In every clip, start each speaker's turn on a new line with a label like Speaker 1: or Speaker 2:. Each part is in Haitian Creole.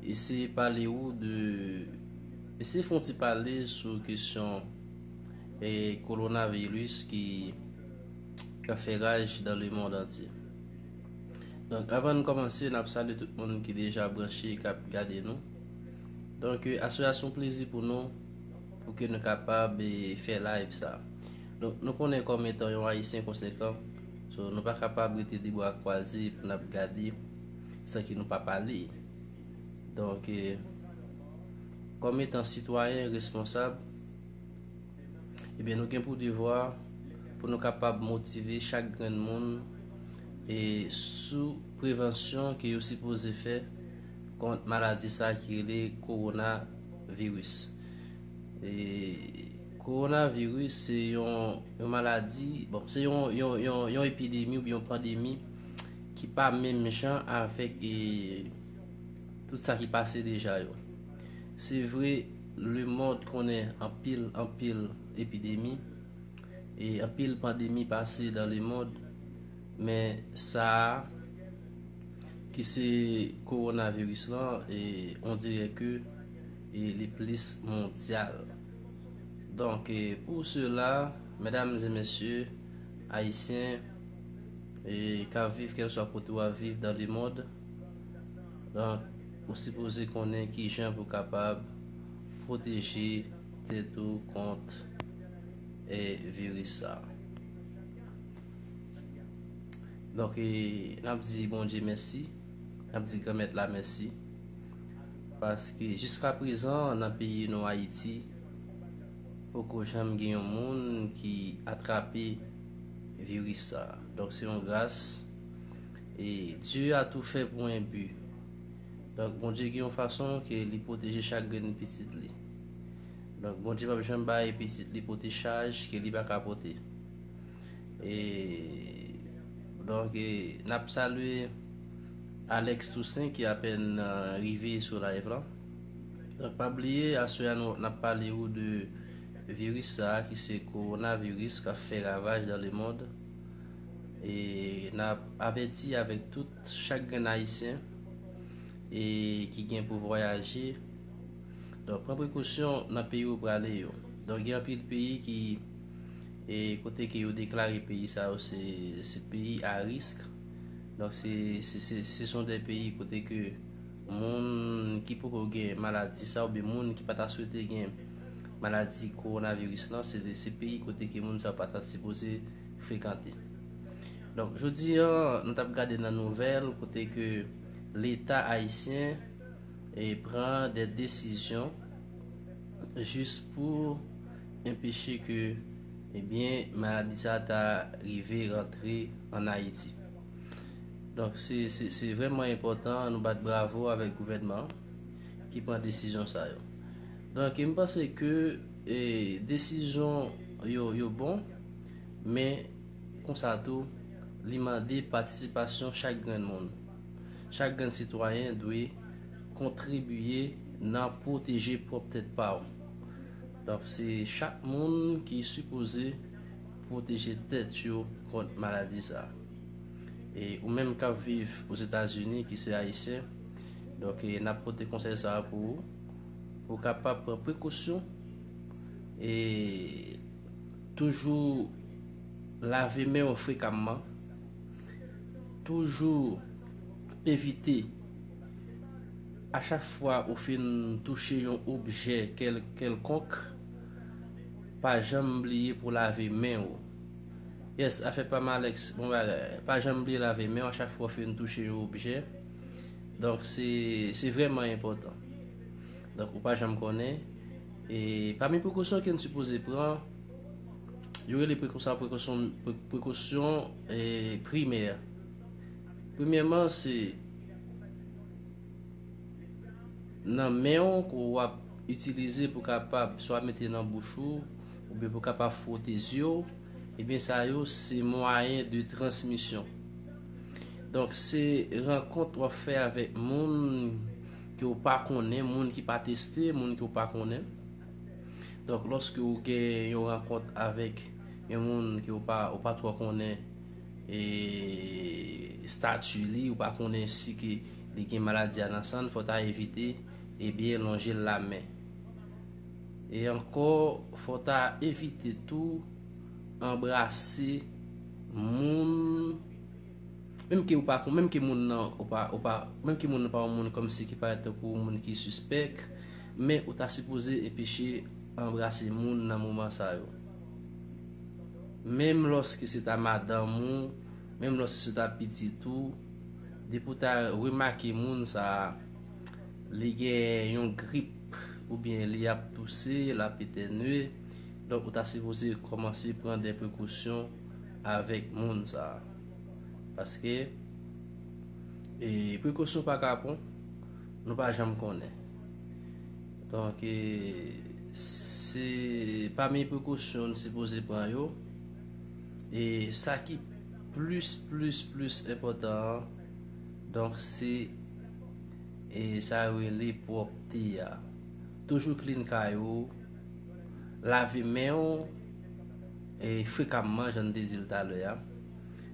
Speaker 1: Eseye pale ou de Eseye fon ti pale sou kesyon e kolona virus ki ka fè raj dan le mond antye. Donk avan nou komanse, nap sale tout moun ki deja branche e kap gade nou. Donk euh, aswe a son plezi pou nou pou ke nou kapab e fè live sa. Donk nou konnen kom etan yon ayisyen konsekan, so nou pa kapab rete de bwa kwaze pou nap gade. San ki nou pa pale. Donk, kòm etan sitwayen responsab, ebyen nou gen pou devwa pou nou kapab motive chak grenn moun e sou prevansyon ke yo sipoze fè kont maladi sa ki rele kowona viris. E kowona viris se yon maladi, bon se yon epidemi oubyen yon pandemi. ki pa menm jan avèk e tout sa ki pase deja yo. Se vre le mond konnen anpil anpil epidemi e anpil pandemi pase dan le mond men sa a ki se korona viris lan e on dirè ke e li plis mondyal. Donk e pou sela medam e mesye ayisyen. e ka viv kèlswa kote w ap viv dan lemond, donk ou sipoze konnen kijan pou kapab pwoteje tèt ou kont e viris sa. Donk e n ap di Bondye mèsi, n ap di Granmèt la mèsi, paske jiska prezan nan peyi nou Ayiti poko janm gen yon moun ki atrape viris sa. Donk se yon gras. E Dieu a tou fè pou en but. Donk Bondye gen yon fason ke li pwoteje chak grenn pitit li. Donk Bondye pap janm bay pitit li pote chaj ke li pa ka pote. E donk e nap salye Alex Toussaint ki apèn rive sou live lan. Donk pa bliye aswè a nou nap pale ou de Viris sa a ki se kowonaviris kap fè ravaj dan le mond e nap avèti avèk tout chak grenn ayisyen e ki gen pou vwayaje donk pran prekosyon nan peyi ou prale yo donk gen anpil peyi ki e kote ke yo deklare peyi sa yo se se peyi a risk donk se se se son de peyi kote ke Moun ki poko gen maladi sa oubyen moun ki pa ta swete gen maladi kowonaviris lan se peyi kote ke moun sa yo pa ta sipoze frekante. Donk jodi an nou tap gade nan nouvèl kote ke leta ayisyen e pran de desizyon jis pou enpeche ke ebyen maladi sa ta rive rantre an Ayiti. Donk se vreman enpotan nou bat bravo avek gouvènman ki pran desizyon sa yo. Donk m panse ke desizyon yo yo bon men konsa tou li mande patisipasyon chak grenn moun. Chak grenn sitwayen dwe kontribiye nan pwoteje pwop tèt pa w. Donk se chak moun ki sipoze. pwoteje tèt yo kont maladi sa. E ou menm kap viv Ozetazini ki se Ayisyen, donk e nap pote konsèy sa pou ou, pou kapab pran prekosyon e toujou lave men w frekamman, toujou evite a chak fwa ou fin touche yon objè kèlkonk. pa janm bliye pou lave men ou yes afè pam Alex bon bagay pa janm bliye lave men ou a chak fwa ou fin touche yon objè donk se se vrèman enpòtan donk ou pa janm konnen e pami prekosyon ke n sipoze pran yo rele prekosyon prekosyon prekosyon e primè premyèman se. nan men w ke w ap itilize pou kapab swa mete nan bouch ou, oubyen pou kapab fwote zye w, ebyen sa yo se mwayen de transmisyon. Donk se rankont w ap fè avèk moun ke w pa konnen, moun ki pa teste, moun ke w pa konnen. Donk lòske w gen yon rankont avèk yon moun ke w pa twò konnen, statut li ou pa konnen si ke li gen maladi a nan sanl fò ta evite ebyen lonjel la men e ankò fò ta evite tou anbrase moun menm ke ou pa menm ke moun nan ou pa ou pa menm ke moun nan pa yon moun kòm si ki parèt tankou yon moun ki sispèk men ou ta sipoze enpeche anbrase moun nan moman sa yo. Menm lòske se ta madanm ou, menm lòske se ta pitit ou, depi ou ta remake moun sa a, li gen yon grip oubyen li ap touse, l ap etènye, donk ou ta sipoze kòmanse pran de prekosyon avèk moun sa a. Paske, prekosyon pa kapon, nou pa janm konnen. Donk, se pami prekosyon n sipoze pran yo. E sa ki plis, plis, plis enpòtan an, donk se e sa yo rele pwòpte a. Toujou klin kay ou, lave men ou e frekamman jan n te di l talè a.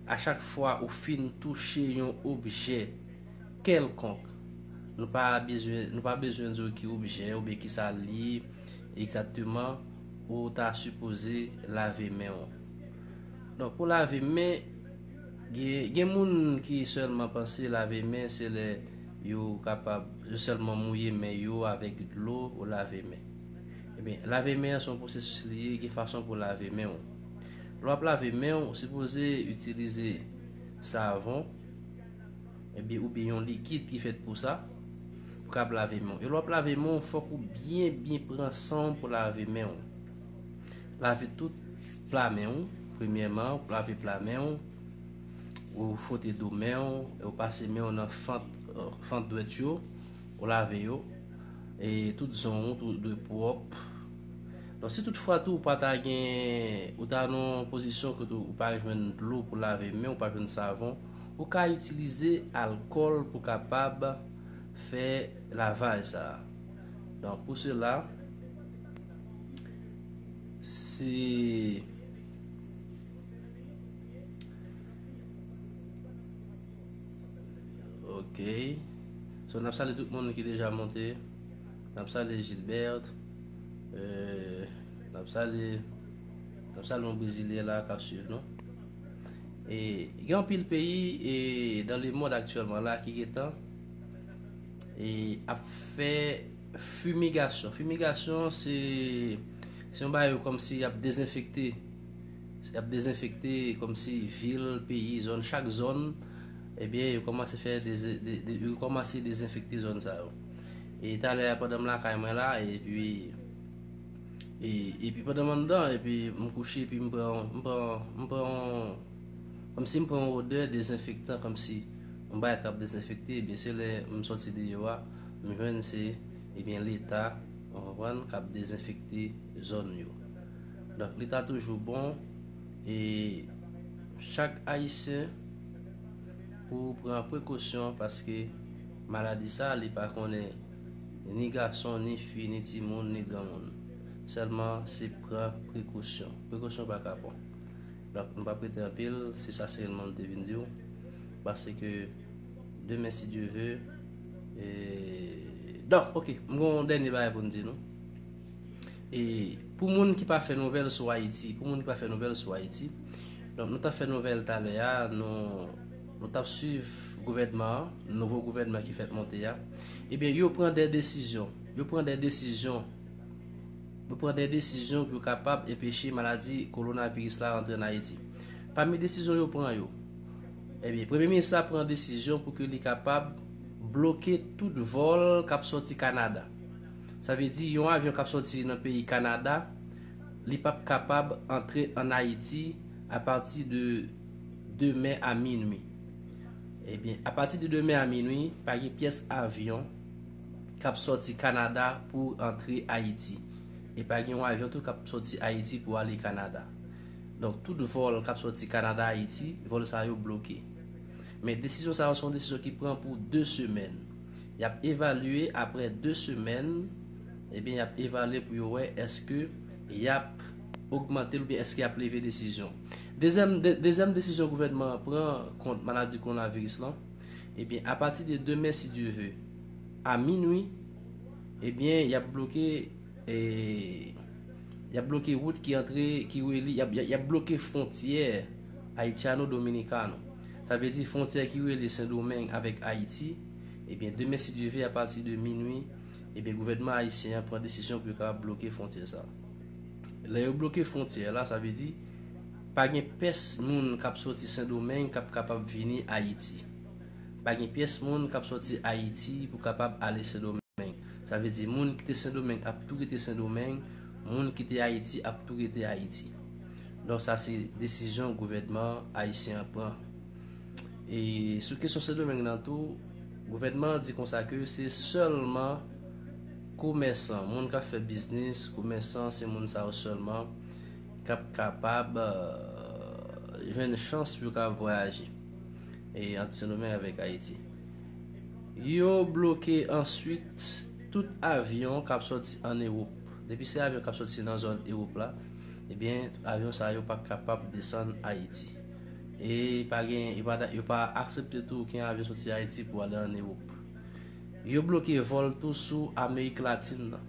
Speaker 1: A chak fwa ou fin touche yon objè. kèlkonk. Nou pa bezwen nou pa bezwen di w ki objè oubyen ki sa l ye egzakteman ou ta sipoze lave men w. Donk pou lave men, gen gen moun ki sèlman panse lave men se lè yo kapab yo sèlman mouye men yo avèk dlo ou lave men. Ebyen, lave men an se yon pwosesis li ye, gen fason pou w lave men w. Lè w ap lave men w, ou sipoze itilize savon. Ebyen ou byen yon likid ki fèt pou sa, pou kab lave men w. E lè w ap lave men w, fòk ou byen byen pran san w pou lave men w. Lave tout pla men w, premyèman ou lave pla men w, ou fwote do men w, e ou pase men w nan fant fant dwèt yo, ou lave yo. E tout zon w tou dwe pwòp. Donk si tout fwa tou ou pa ta gen, ou ta nan yon pozisyon kote ou pa jwenn dlo pou lave men w, ou pa jwenn savon. Ou ka itilize alkòl pou kapab fè lavaj sa a. Donk pou sela, se Ok. So n ap sale tout moun ki deja monte. N ap sale Gilbert. Euh, n ap sale, n ap sale yon brezilyen la k ap swiv nou. E gen anpil peyi e dan le mond aktyèlman la ki getan e ap fè fumigasyon. Fumigasyon se se yon bayo kòm si ap dezenfekte. Se ap dezenfekte kòm si vil, peyi, zòn, chak zòn ebyen yo kòmanse fè de yo kòmanse dezenfekte zòn sa yo. E talè a pandan m lakay mwen la epi Epi pandan m anndan epi m kouche epi m pran m pran m pran yon kòmsi m pran yon odè dezenfektan kòmsi yon bagay k ap dezenfekte ebyen se lè m sòti deyò a m jwenn se ebyen leta ou konprann k ap dezenfekte zòn yo. Donk li ta toujou bon e chak ayisyen pou pran prekosyon paske maladi sa li pa konnen ni gason, ni fi, ni timoun, ni granmoun. Sèlman se pran prekosyon. Prekosyon pa kapon. Donk, m pa p rete anpil, se sa sèlman m te vin di w. Pase ke demen si Dye ve, e... Donk, ok, m gen yon dènye bagay pou m di nou. E, pou moun ki pa fè nouvèl sou Ayiti, pou moun ki pa fè nouvèl sou Ayiti, donk nou ta fè nouvèl talè a, nou... Nou tap swiv gouvènman an, nouvo gouvènman ki fèt monte a, ebyen yo pran dè desizyon, yo pran dè desizyon, yo pran dè desizyon pou yo kapab enpeche maladi kolonaviris la rantre an Ayiti. Pami desizyon yo pran yo, ebyen premye minis la pran desizyon pou ke li kapab bloke tout vòl kap sòti Kanada. Sa vle di yon avyon kap sòti nan peyi Kanada, li pap kapab antre an Ayiti apati de. demen a minwi. Ebyen, apati de demen a minwi, pa gen pyès avyon k ap sòti Kanada pou antre Ayiti. E pa gen yon avyon tou k ap sòti Ayiti pou ale Kanada. Donk, tout vòl k ap sòti Kanada Ayiti, vòl sa yo bloke. Men desizyon sa yo se yon desizyon ki pran pou 2 semèn. Y ap evalye aprè 2 semèn, ebyen y ap evalye pou yo wè èske y ap. ogmante l oubyen èske y ap leve desizyon. Dezyèm dezyèm desizyon gouvènman an pran kont maladi kowonaviris lan, ebyen apati de demen si Dye ve, a minui, ebyen y ap bloke y ap bloke wout ki antre ki reli y ap bloke fwontyè Haitiano Dominicano. Sa vle di fwontyè ki reli Sendomeng avèk Ayiti, ebyen demen si Dye ve apati de minui, ebyen gouvènman ayisyen an pran desizyon pou yo kapab bloke fwontyè sa. Lè yo bloke fwontyè la, sa vle di pa gen pès moun k ap soti Sendomeng k ap kapab vini Ayiti. Pa gen pyès moun k ap soti Ayiti pou kapab ale Sendomeng. Sa vle di moun ki te Sendomeng ap tou rete Sendomeng, moun ki te Ayiti ap tou rete Ayiti. Donk sa se desizyon gouvènman ayisyen an pran. E sou kesyon Sendomeng nan tou, gouvènman an di konsa ke se sèlman Komèsan, moun k ap fè biznis, komèsan se moun sa yo sèlman k ap kapab jwenn chans pou yo ka vwayaje ant Sendomeng avèk Ayiti. Yo bloke answit tout avyon k ap sòti an Ewop. Depi se avyon k ap sòti nan zòn Ewop la, ebyen avyon sa yo pa kapab desann Ayiti. E pa gen, yo pa aksepte tou oken avyon sòti Ayiti pou ale an Ewop. Yo bloke vòl tou sou Amerik Latin nan.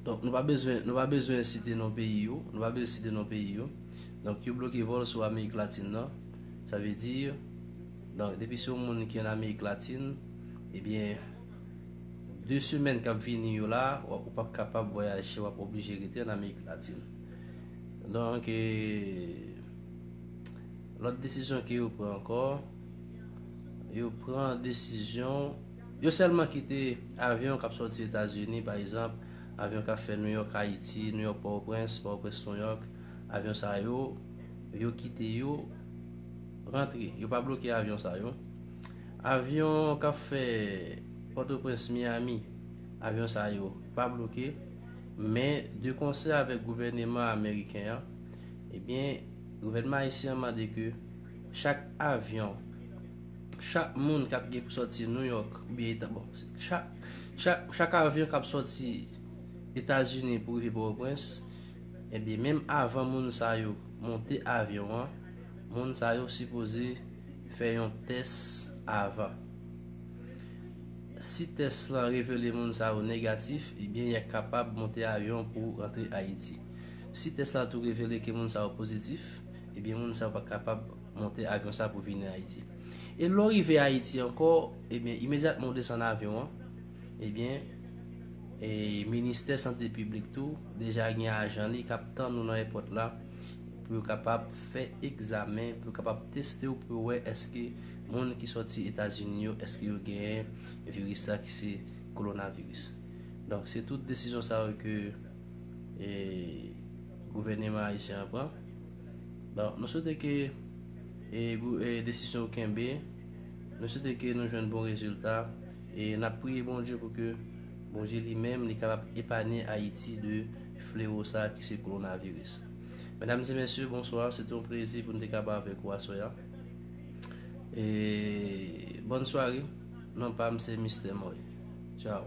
Speaker 1: Donk nou pa bezwen, nou pa bezwen site non peyi yo, nou pa bezwen site non peyi yo. Donk yo bloke vòl sou Amerik Latin nan. Sa vle di, donk depi se yon moun ki an Amerik Latin, ebyen 2 semèn kap vini yo la, wap ou pap kapab vwayaje, wap oblije rete an Amerik Latin. Donk, lòt desizyon ke yo pran ankò. yo pran desizyon, yo sèlman kite avyon k ap sòti Etazini, pa egzanp, avyon k ap fè Nouyòk-Ayiti, Nouyòk-Pòtoprens, Pòtoprens-Nouyòk, avyon sa yo, yo kite yo rantre. Yo pa bloke avyon sa yo. Avyon k ap fè Pòtoprens-Miyami, avyon sa yo pa bloke, men de konsè avèk gouvèneman ameriken an, ebyen, gouvènman ayisyen an mande ke Chak avyon, chak moun kap gen pou soti New York ou byen eta bon, chak avyon kap soti Etazini pou rive Pòtoprens, ebyen eh menm avan moun sa yo monte avyon an, moun sa yo sipoze fè yon tès avan. Si tès lan revele moun sa yo negatif, ebyen eh ya kapab monte avyon pou rantre Ayiti. Si tès la tou revele ke moun sa yo pozitif, Ebyen moun sa yo pa kapab monte avyon sa pou vini Ayiti. E lè w rive Ayiti ankò, ebyen imedyatman ou desann avyon an, ebyen e ministè sante piblik tou deja gen ajan li k ap tann ou nan èpòt la pou yo kapab fè egzamen, pou yo kapab teste w pou yo wè èske moun ki sòti Etazini yo èske yo genyen viris sa ki se kolonaviris. Donk se tout desizyon sa yo ke e gouvèneman ayisyen an pran. Bon, mwen swete ke e desizyon ou kenbe, mwen swete ke nou jwenn bon rezilta e nap priye Bondye pou ke Bondye li menm li kapab epanye Ayiti de flewo sa ki se Coronavirus. Medam e mesye, bonswa, se te yon plezi pou nou te ka pa avèk ou aswè a. E bòn sware, non pam se Mister Moy. Ciao.